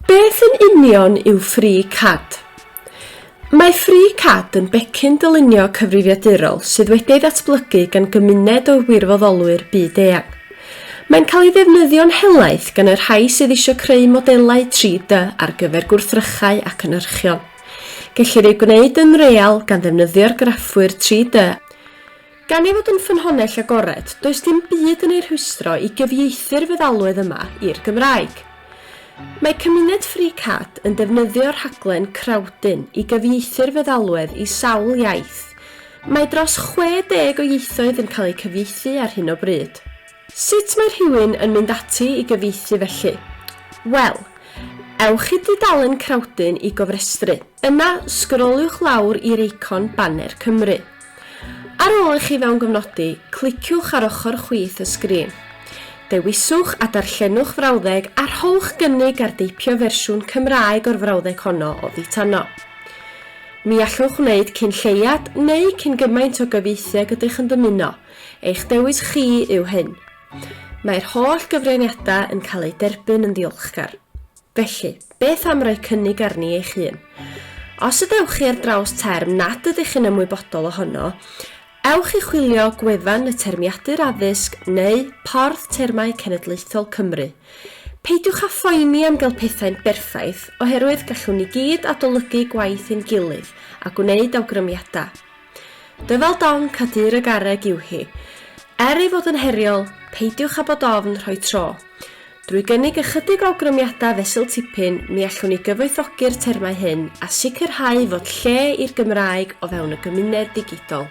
Beth yn union yw Free Cad? Mae Free Cad yn becyn dylunio cyfrifiadurol sydd wedi ei ddatblygu gan gymuned o wirfoddolwyr byd-eang. Mae'n cael ei ddefnyddio'n helaeth gan y rhai sydd eisiau creu modelau 3D ar gyfer gwrthrychau a cynhyrchion. Gellir ei gwneud yn real gan ddefnyddio'r graffwyr 3D a Gan ei fod yn ffynhonnell agored, does dim byd yn ei rhwystro i gyfieithu'r feddalwedd yma i'r Gymraeg. Mae cymuned FreeCAD yn defnyddio rhaglen Crowdyn i gyfieithu'r feddalwedd i sawl iaith. Mae dros 60 o ieithoedd yn cael eu cyfieithu ar hyn o bryd. Sut mae rhywun yn mynd ati i gyfieithu felly? Wel, ewch i dudalen Crowdyn i gofrestru. Yna, sgroliwch lawr i'r eicon Baner Cymru. Ar ôl i chi fewngofnodi, cliciwch ar ochr chwith y sgrin. Dewiswch a darllenwch frawddeg a rhowch gynnig ar deipio fersiwn Cymraeg o'r frawddeg honno oddi tano. Ni allwch wneud cyn lleiad neu cyn gymaint o gyfieithu ag ydych yn dymuno, eich dewis chi yw hyn. Mae'r holl gyfraniadau yn cael eu derbyn yn ddiolchgar. Felly, beth am roi cynnig arni eich hun? Os ydewch chi ar draws term nad ydych chi'n ymwybodol ohono, ewch i chwilio gwefan y Termiadur Addysg neu Porth Termau Cenedlaethol Cymru. Peidiwch â phoeni am gael pethau'n berffaith, oherwydd gallwn ni gyd adolygu gwaith ein gilydd a gwneud awgrymiadau. Dyfal donc a dur y garreg yw hi. Er ei fod yn heriol, peidiwch â bod ofn rhoi tro. Drwy gynnig ychydig o awgrymiadau fesul tipyn, mi allwn ni gyfoethogi'r termau hyn a sicrhau fod lle i'r Gymraeg o fewn y gymuned ddigidol.